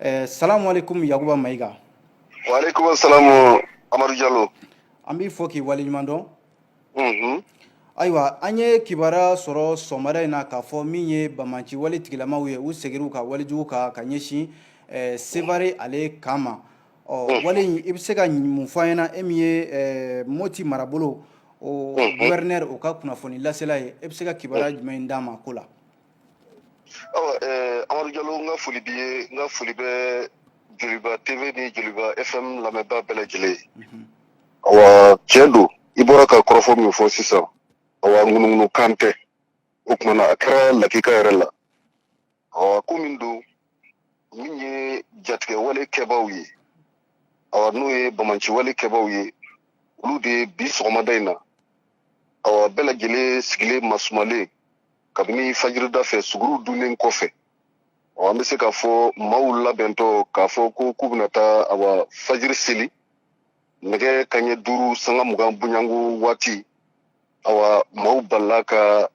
Ɛɛ salam aleyikum Yakuba Mayiga. Wa aleyikum salam Amadu Jalo. An b'i fo k'i waleɲuman dɔn. Unhun. Ayiwa an ye kibaruya sɔrɔ sɔgɔmada in na k'a fɔ min ye banbaanci wale tigilamaw ye u segira u ka wale jugu kan ka ɲɛsin ɛɛ Sevare ale kan ma. Ɔ wale in i bɛ se ka mun fɔ an ɲɛna e min ye ɛɛ Moti marabolo o gouverneur o ka kunnafoni lasela ye e bɛ se ka kibaruya jumɛn d'an ma o ko la? awa eh, amadu jalo n ka foli b'i ye n ka foli bɛ joliba tv ni joliba fm lamɛnbaa bɛɛ lajɛlen ye mhm. awa tiɲɛ don i bɔra ka kɔrɔfɔ min fɔ sisan awa ŋunuŋunu kan tɛ o kumana a kɛra lakika yɛrɛ la awa ko min don min ye jatigɛ wale kɛbaaw ye awa n'o ye banbaanci wale kɛbaaw ye olu de ye bi sɔgɔmada in na awa bɛɛ lajɛlen sigilen masumalen kabini fajirida fɛ suguru dunnen kɔfɛ ɔ an bɛ se k'a fɔ maaw labɛntɔ k'a fɔ ko k'u bɛna taa awa fajiri seli nɛgɛ kanɲɛ duuru sanga mugan bonyanko waati awa maaw balala ka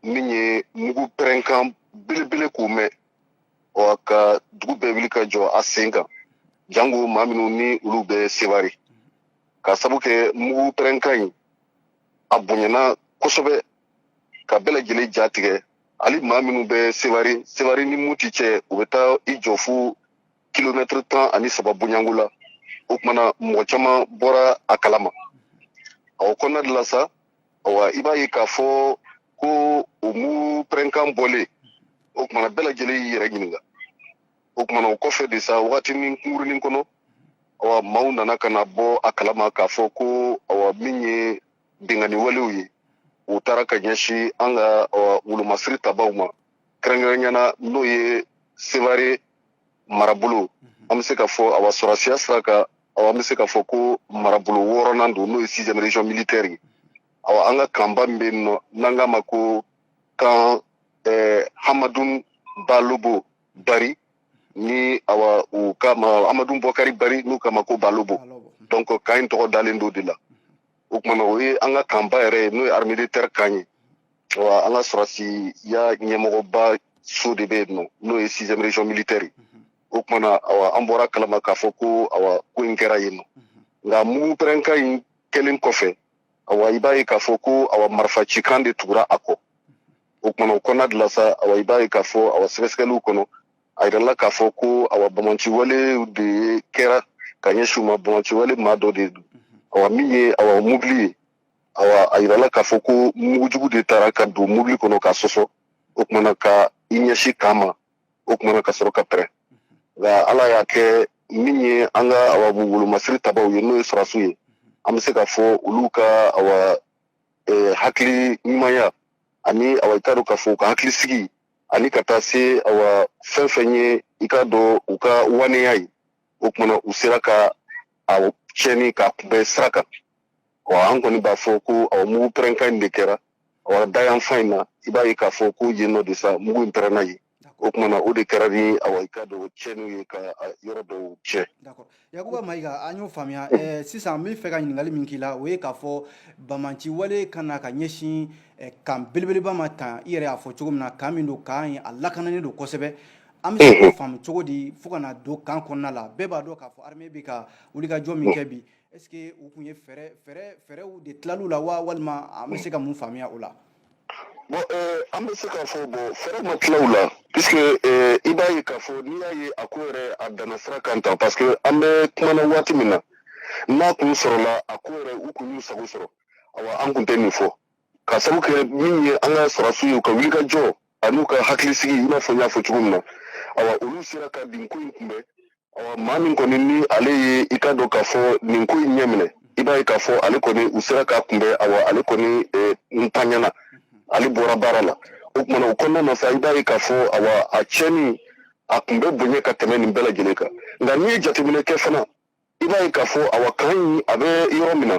min ye mugu pɛrɛnkan belebele k'o mɛn awa ka dugu bɛɛ wuli ka jɔ a sen kan jango maa minnu ni olu bɛ sevare ka sabu kɛ mugu pɛrɛnkan in a bonyana kosɛbɛ ka bɛɛ lajɛlen ja tigɛ hali maa minnu bɛ sevare sevare ni moti cɛ u bɛ taa i jɔ fo kilomɛtiri tan ani saba bonyanko la o kumana mɔgɔ caman bɔra a kalama o kɔnɔna de la sa awa i b'a ye k'a fɔ ko o mugu pɛrɛnkan bɔlen o kumana bɛɛ lajɛlen y'i yɛrɛ ɲininka o kumana o kɔfɛ de sa wagatinin kunkurunin kɔnɔ awa maaw nana ka na bɔ a kalama k'a fɔ ko awa min ye binkanni walew ye u taara ka ɲɛsin an ka wolomasiri tabaaw ma kɛrɛnkɛrɛnyana n'o ye sevare marabolo mhm. an bɛ se k'a fɔ awa sɔrɔsiya sira kan awa an bɛ se k'a fɔ ko marabolo wɔɔrɔnan don n'o ye sixième région militaire ye awa an ka kanba min bɛ yen nɔ n'an k'a ma ko kan eh, hamadun balobo bari ni awa u k'a ma hamadun bɔkari bari n'u k'a ma ko balobo donc kan in tɔgɔ dalen don de la o kumana o ye an ka kanba yɛrɛ ye n'o ye armée de terre kan ye awa an ka sɔrɔsiya ɲɛmɔgɔba so de bɛ yen nɔ n'o ye sixième région militaire ye o kumana awa an bɔra a kalama k'a fɔ ko awa ko in kɛra yen nɔ nka mugu pɛrɛnkan in kɛlen kɔfɛ awa i b'a ye k'a fɔ ko awa marifa cikan de tugura a kɔ o kumana o kɔnɔna de la sa awa i b'a ye k'a fɔ awa sɛgɛsɛgɛliw kɔnɔ a yirala k'a fɔ ko awa banbanci wale de ye kɛra ka ɲɛsin u ma banbanci wale maa dɔ de don awa min ye awa mobili ye awa a yirala k'a fɔ ko mugujugu de taara ka don mobili kɔnɔ ka sɔsɔ o kumana ka i ɲɛsin kan ma o kumana ka sɔrɔ ka pɛrɛn nka ala y'a kɛ min ye an ka awa wolomasiri tabaw ye n'o ye sɔrasiw ye an bɛ se k'a fɔ olu ka awa eh, hakili ɲumanya ani awa i t'a dɔn k'a fɔ u ka hakili sigi ani ka taa se awa fɛn fɛn ye i k'a dɔn u ka waneya ye o kumana u sera ka a tiɲɛni k'a kunbɛn sira kan ɔ an kɔni b'a fɔ ko awa mugu pɛrɛnkan in de kɛra awa da yanfan in na i b'a ye k'a fɔ ko yen nɔ de sa mugu in pɛrɛnna yen o kumana o de kɛra ni awa i k'a dɔn tiɲɛniw ye ka yɔrɔ dɔw tiɲɛ Yakuba Mayiga an y'o faamuya ɛɛ sisan n bɛ fɛ ka ɲininkali min k'i la o ye k'a fɔ banbanci wale ka na ka ɲɛsin eh, kan belebeleba ma tan i yɛrɛ y'a fɔ cogo min na kan min don kan ye a lakananen don kosɛbɛ an bɛ se k'o faamu cogo di fo ka na don kan kɔnɔna la bɛɛ b'a dɔn k'a fɔ armée bɛ ka wulikajɔ min kɛ bi est ce que u tun ye fɛɛrɛ fɛɛrɛ fɛɛrɛw de tilal'u la wa walima an bɛ se ka mun faamuya o la Bon euh, an bɛ se k'a fɔ bon fɛɛrɛ ma tila u la puisque euh, i b'a ye k'a fɔ n'i y'a ye a ko yɛrɛ a danna sira kan tan parce que an bɛ kuma na waati min na n'a kun sɔrɔla a ko yɛrɛ u kun y'u sago sɔrɔ awa an kun tɛ nin fɔ k'a sabu kɛ min ye an ka sɔrɔdasiw ye u ka wulikajɔ an'u ka hakilisigi i n'a fɔ n y'a fɔ cogo min na awa olu sera ka nin ko in kunbɛn awa maa min kɔni ni ale ye i k'a dɔn k'a fɔ nin ko in ɲɛminɛ i b'a ye k'a fɔ ale kɔni u sera k'a kunbɛn awa ale kɔni eh, n ta ɲɛ na ale bɔra baara la o kumana o kɔnɔna na sa i b'a ye k'a fɔ awa a tiɲɛni a kun bɛ bonya ka tɛmɛ nin bɛɛ lajɛlen kan nka n'i ye jateminɛ kɛ fana i b'a ye k'a fɔ awa kan in a bɛ yɔrɔ min na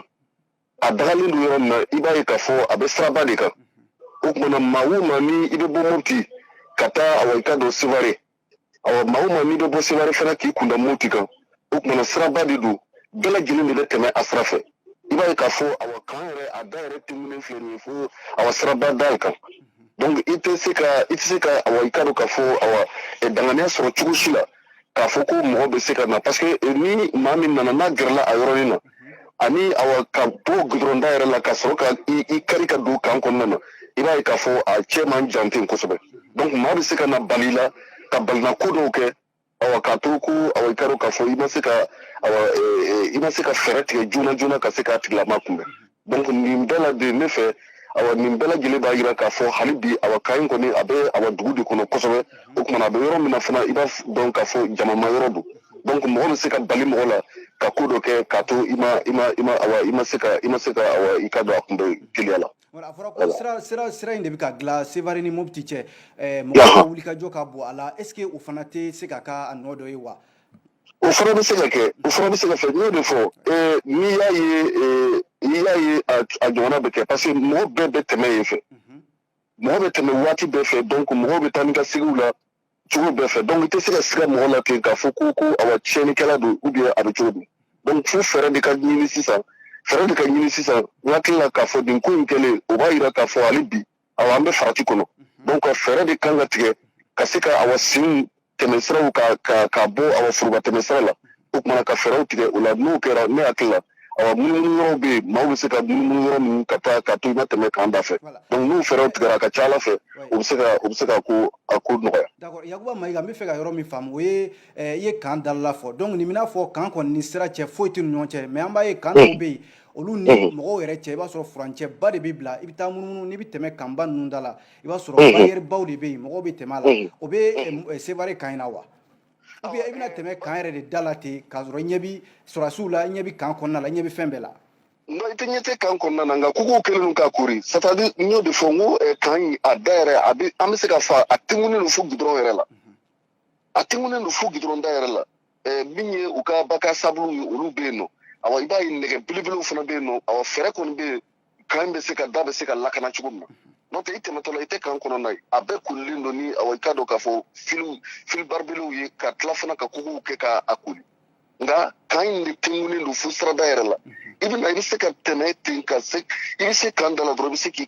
a dagalen don yɔrɔ min na i b'a ye k'a fɔ a bɛ siraba de kan o kumana maa o maa ni i bɛ bɔ moti ka taa awa i k'a dɔn seware awa maa o maa n'i bɛ bɔ seware fana k'i kunda moti kan o kumana siraba de don bɛɛ lajɛlen de bɛ tɛmɛ a sira fɛ i b'a ye k'a fɔ awa kan yɛrɛ a da yɛrɛ tɛmɛnen filɛ nin ye fo awa siraba da kan donc i tɛ se ka i tɛ se ka awa i k'a dɔn k'a fɔ awa danganiya sɔrɔ cogo si la k'a fɔ ko mɔgɔ bɛ se ka na parce que eh, ni maa min nana n'a gɛrɛla a yɔrɔnin na mhm. ani awa ka bɔ gudɔrɔn da yɛrɛ la ka sɔrɔ ka i kari ka don kan kɔnɔna na i b'a ye k'a fɔ a cɛ man jan ten kosɛbɛ donc maa bɛ se ka na bali la ka balina ko dɔw kɛ awa k'a to ko awa i k'a dɔn k'a fɔ i ma se ka awa eh, eh, i ma se ka fɛɛrɛ tigɛ joona joona ka se k'a tigilama kunbɛn donc nin bɛɛ la de ne fɛ awa nin bɛɛ lajɛlen b'a jira k'a fɔ hali bi awa kan in kɔni a bɛ awa dugu de kɔnɔ kosɛbɛ o kumana a bɛ yɔrɔ min na fana i b'a dɔn k'a fɔ jamama yɔrɔ don donc mɔgɔ bɛ se ka bali mɔgɔ la ka ko dɔ kɛ k'a to i ma i ma i ma awa i ma se ka i ma se ka awa i ka dɔn a kunbɛn teliya la a fɔra ko sira sira sira in de bɛ ka dilan sevare ni mopti cɛ mɔgɔ ka wulikajɔ ka bon a la est ce que o fana tɛ se ka k'a nɔ dɔ ye wa o fana bɛ se ka kɛ o fana bɛ se ka fɛ n y'o de fɔ ee n'i y'a ye ee n'i y'a ye a a ɲɔgɔnna bɛ kɛ parce que mɔgɔ bɛɛ bɛ tɛmɛ yen fɛ mɔgɔ bɛ tɛmɛ waati bɛɛ fɛ donc mɔgɔw bɛ taa ni ka seginw la cogo bɛɛ fɛ donc i tɛ se ka siga mɔgɔ la ten k'a fɔ ko ko awa tiɲɛnikɛla don ou bien a bɛ cogo di donc fo fɛɛrɛ de ka ɲini sisan fɛɛrɛ de ka ɲini sisan n hakili la k'a fɔ nin ko in kɛlen o b'a jira k'a fɔ hali bi awa an bɛ farati kɔnɔ donc fɛɛrɛ de kan ka tigɛ ka se ka awa sen tɛmɛsiraw ka bɔ awa foroba tɛmɛsira la o kumana ka fɛɛrɛw tigɛ o la n'o kɛra ne hakili la awa munumunu yɔrɔw bɛ yen maaw bɛ se ka munumunu yɔrɔ ninnu ka taa ka to i ma tɛmɛ kan da fɛ donc n'o fɛɛrɛw tigɛra a ka ca a la fɛ o bɛ se ka o bɛ se ka ko a ko nɔgɔya. d'accord yakuba mayiga n bɛ fɛ ka yɔrɔ min faamu o ye eh, i ye kan dalala fɔ donc nin b'i n'a fɔ kan kɔni ni sira cɛ foyi tɛ ni ɲɔgɔn cɛ mais an b'a ye kan dɔw bɛ yen olu ni mɔgɔw yɛrɛ cɛ i b'a sɔrɔ furancɛba de bɛ bila i bɛ taa munumunu n'i bɛ tɛmɛ kanba ninnu da la i b'a sɔrɔ bariyɛribaw de bɛ yen mɔgɔw bɛ tɛmɛ a la o bɛ sevare kan in na wa i bɛna tɛmɛ kan yɛrɛ de da la ten k'a sɔrɔ i ɲɛ bɛ sɔrɔdasiw la i ɲɛ bɛ kan kɔnɔna la i ɲɛ bɛ fɛn bɛɛ la non i tɛ ɲɛ tɛ kan kɔnɔna na nka kogow kɛlen don k'a koori c'est à dire n y'o de fɔ n ko kan in a da yɛrɛ a bɛ an bɛ se ka fɔ a tengunen don fo gudɔrɔn yɛrɛ la a tengunen don fo gidɔrɔn da yɛrɛ la eh, min ye u ka bac à sable ye olu bɛ yen nɔ awa i b'a ye nɛgɛ belebelew fana bɛ yen nɔ awa fɛɛrɛ kɔni bɛ yen kan bɛ se ka da bɛ se ka lakana cogo min na n'o tɛ i tɛmɛtɔ la i tɛ kan kɔnɔna ye a bɛɛ koolilen don ni awa i k'a dɔn k'a fɔ fili filibaribelew ye ka tila fana ka kogow kɛ ka a kooli nka kan in de tengunen don fo sirada yɛrɛ la i bɛ na i bɛ se ka tɛmɛ ten ka se i bɛ se kan da la dɔrɔn i bɛ se k'i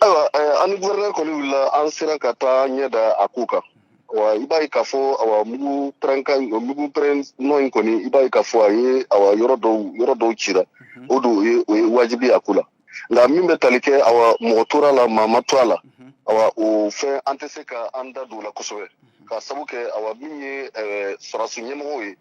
ayiwa eh, an ni guvɛrɛnɛri kɔni wulila an sera ka taa an ɲɛ da a ko kan awa i b'a ye k'a fɔ awa mugu pɛrɛnka mugu pɛrɛn nɔ in kɔni i b'a ye k'a fɔ a ye awa yɔrɔ dɔw yɔrɔ dɔw cira mhm. o don o ye o ye wajibi a ko la nka min bɛ tali kɛ awa mɔgɔ tora la maa ma to a la mhm. awa o fɛn an tɛ se ka an da don o la kosɛbɛ mhm. k'a sabu kɛ awa min ye eh, sɔrɔdasi ɲɛmɔgɔw ye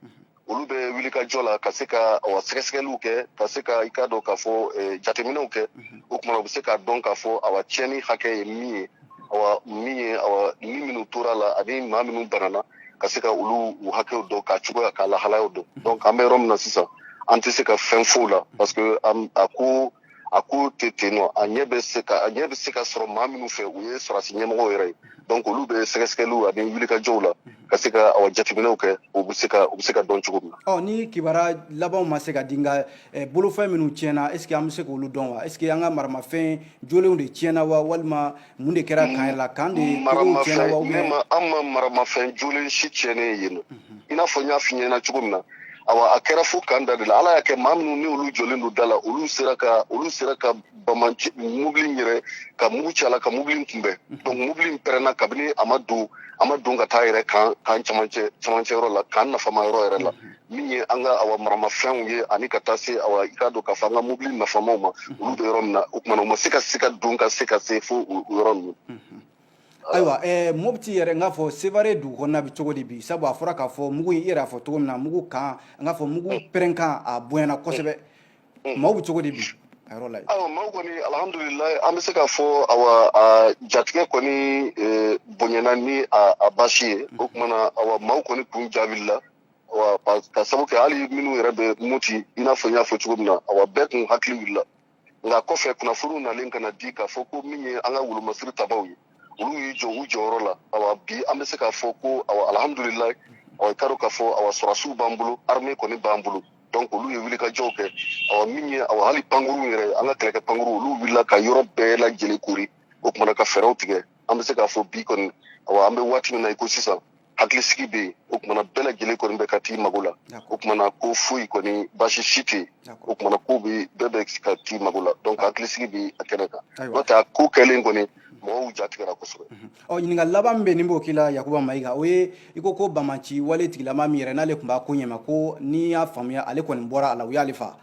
olu bɛ wulikajɔ la ka se ka awa sɛgɛsɛgɛliw kɛ ka se ka i ka dɔn k'a fɔ eh, jateminɛw kɛ mhm. o kumana u bɛ se k'a dɔn k'a fɔ awa tiɲɛni hakɛ ye min ye awa min ye awa ni minnu tora la ani maa minnu banana ka se ka olu u hakɛw dɔn k'a cogoya k'a lahalayaw dɔn mhm. donc an bɛ yɔrɔ min na sisan an tɛ se ka fɛn f'o la parce que a ko a ko tɛ ten nɔ a ɲɛ bɛ se ka a ɲɛ bɛ se ka sɔrɔ maa minnu fɛ u ye sɔrɔdasi ɲɛmɔgɔ yɛrɛ ye donc olu bɛ sɛgɛsɛgɛliw ani wulikajɔw la ka se ka aw jateminɛw kɛ u bɛ se ka u bɛ se ka dɔn cogo min na. ɔ ni kibara labanw ma se ka di nka eh, bolofɛn minnu tiɲɛna est ce que an bɛ se k'olu dɔn wa est ce que an ka maramafɛn jolenw de tiɲɛna wa walima mun de kɛra kan la kan de an ma maramafɛn jolen si tiɲɛnen ye mhm. i n'a fɔ n y'a f'i ɲɛna cogo min na awa a kɛra fo kan da de la ala y'a kɛ maa minnu ni olu jɔlen don da la olu sera ka olu sera ka baman mobili yɛrɛ ka mugu ci a la ka mobili kunbɛn mhm. donc mobili pɛrɛnna kabini a ma don a ma don ka taa yɛrɛ kan kan camancɛ camancɛ yɔrɔ la kan nafama yɔrɔ yɛrɛ la mhm. min ye an ka awa maramafɛnw ye ani ka taa se awa i k'a dɔn k'a fɔ an ka mobili nafamaw ma olu bɛ yɔrɔ min na o kumana u ma se ka se ka don ka se ka se fo o yɔrɔ ninnu ayiwa eh, mopti yɛrɛ n k'a fɔ sevare dugu kɔnɔna bɛ cogo di bi sabu a fɔra k'a fɔ mugu i yɛrɛ y'a fɔ cogo min na mugu kan n k'a fɔ mugu mm. pɛrɛnkan a bonyana kosɛbɛ mm. maaw bɛ cogo di bi a yɔrɔ la yen ayiwa maaw kɔni alihamudulilayi an bɛ se k'a fɔ awa a jatigɛ kɔni eh, bonyana ni a baasi ye mm. o kumana awa maaw kɔni kun jaabili la ka sabu kɛ hali minnu yɛrɛ bɛ mopti i n'a fɔ n y'a fɔ cogo min na awa bɛɛ kun hakili wulila nka kɔfɛ kunnafoniw nalen ka na di k'a fɔ ko min ye an ka wolomasiri tabaw ye olu y'i jɔ u jɔyɔrɔ la awa bi an bɛ se k'a fɔ ko awa alhamdulilayi awa i k'a dɔn k'a fɔ awa sɔrɔdasiw b'an bolo arme kɔni b'an bolo donc olu ye wulikajɔw kɛ awa min ye awa hali pankuruw yɛrɛ an ka kɛlɛkɛ pankuruw olu wulila ka yɔrɔ bɛɛ lajɛlen koori o kumana ka fɛɛrɛw tigɛ an bɛ se k'a fɔ bi kɔni awa an bɛ waati min na i ko sisan hakilisigi bɛ yen o kumana bɛɛ lajɛlen kɔni bɛ ka t'i mago la o kumana ko foyi kɔni baasi si tɛ yen o kumana ko bɛ bɛɛ bɛ ka t'i mago la donc hakilisigi bɛ a kɛnɛ kan n'o tɛ a ko kɛlen kɔni mɔgɔw jatigɛra kosɛbɛ ɔ ɲininkali laban min bɛ ne b'o k'i la yakuba mayiga o ye i ko ko banbaanci wale tigilama min yɛrɛ n'ale tun b'a ko ɲɛma ko ni n y'a faamuya ale kɔni bɔra a la u y'ale fa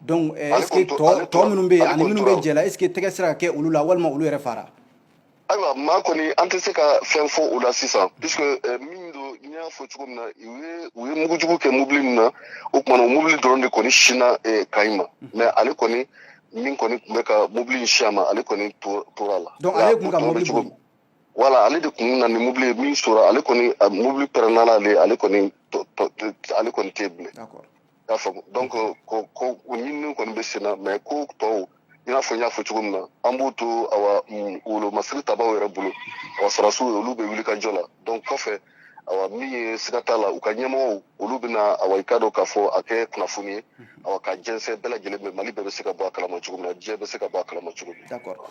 donc est ce que tɔ minnu bɛ yen ani minnu bɛ jɛ la est ce que tɛgɛ sera ka kɛ olu la walima olu yɛrɛ fara ayiwa maa kɔni an tɛ se ka fɛn fɔ u la sisan puisque eh, min don n y'a fɔ cogo min na u ye u ye mugujugu kɛ mobili min na o kumana o mobili dɔrɔn de kɔni sinna eh, kan in ma mhm. mais ale kɔni min kɔni tun bɛ ka mobili in sin a ma ale kɔni tora a la donc ale tun ka mobili boli voilà ale de kun na ni mobili ye min sora ale kɔni mobili pɛrɛnna ale ale kɔni ale kɔni tɛ bilen y'a faamu donc ko ko o ɲinini kɔni bɛ sen na mais ko tɔw i n'a fɔ n y'a fɔ cogo min na an b'u to awa mm, wolomasiri tabaw yɛrɛ bolo awa sɔrɔdasiw ye olu bɛ wulikajɔ la donc kɔfɛ awa min ye siga t'a la u ka ɲɛmɔgɔw olu bɛna awa i k'a dɔn k'a fɔ a kɛ kunnafoni ye awa ka jɛnsɛn bɛɛ lajɛlen bɛ mali bɛɛ bɛ se ka bɔ a kalama cogo min na diɲɛ bɛ se ka bɔ a kalama cogo min d'accord